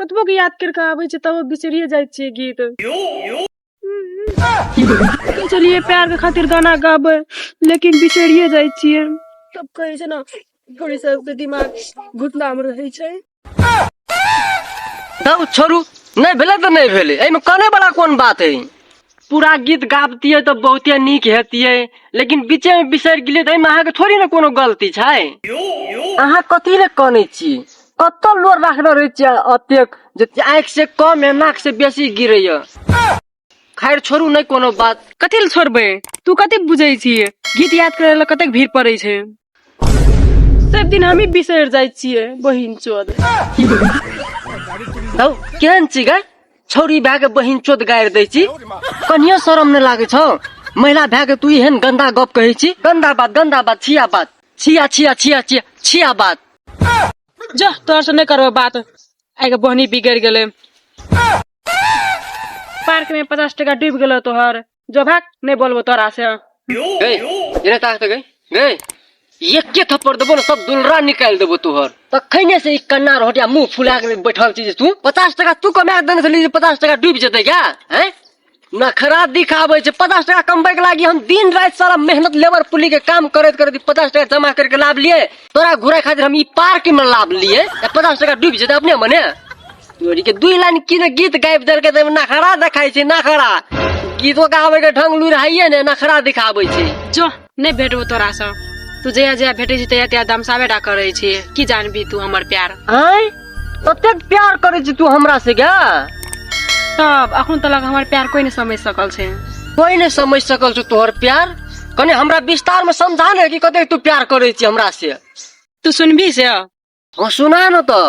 कतबो के याद करके आबै छै तब बिसरिए जाइ छियै गीत चलिए प्यार के खातिर गाना गाबे लेकिन बिसरिए जाइ छियै सब कहै छै ने थोड़ी सबके दिमाग घुटना मे रहै छै तब छोड़ू नहि भेलै तऽ नहि भेलै एहिमे काने वाला कोन बात है पूरा गीत गाबतियै तऽ बहुते नीक हेतियै लेकिन बीचेमे बिसरि गेलियै तऽ एहिमे अहाँके थोड़ी ने कोनो गलती छै अहाँ कथी लए कनै छी कतऽ लोर राखने रहै छियै अतेक जे आँखि से कम या नाक से बेसी गिरैया खैर छोड़ू नहि कोनो बात कथी लए छोड़बै तू कथी बुझै छी गीत याद करै लए कतेक भीड़ पड़ै छै सब दिन हमही बिसरि जाइ छियै बहिन चोद हौ केहन छी गै छौरी भए के बहिन चोद गाड़ि दै छी कनियो शरम नहि लागै छौ महिला भए के तू एहन गंदा गप कहै छी गंदा बात गंदा बात छिया बात छिया छिया छिया छिया छिया बात जा तोहर से नहि करबै बात आइ के बहनी बिगड़ गेलै पार्क में पचास टका डूबि गेलो तोहर जो भाग नहीं बोलबो तोरा से गई इन्हें ताकत गई गई एके थप्पड़ देबो ना सब दुलरा निकाल देबो तोहर तखने से ई कन्ना रोटिया मुंह फुला के बैठल छी जे तू पचास टका तू कमा देने छली जे पचास टका डूबि जेतै क्या हैं नखरा दिखाबै छै पचास टका कमबै के लागी हम दिन राति सारा मेहनत लेबर पुली के काम करैत करैत ई पचास टका जमा करके लाभ लिए तोरा घुराय खातिर हम ई पार्क में लाभ लिए आ पचास टका डूबि जेतै अपने मने तोरी के दुई लाइन की ने गीत गाबि देलकै तऽ नखरा देखाइ छै नखरा गीतो गाबै के ढंग लुरि हाइए ने नखरा दिखाबै छै जो नहि भेटबो तोरा से तू जया जया भेटे छी तया तया दमसाबे टा करे छी की जानबी तू हमर प्यार आँय ततेक प्यार करे छी तू हमरा से क्या तब अखन तक हमार प्यार कोई नहीं समझ सकल छे कोई नहीं समझ सकल छो तोहर प्यार कने हमरा विस्तार में समझा ने कि कते तू प्यार करे छी हमरा से तू सुनबी से हां सुना न तो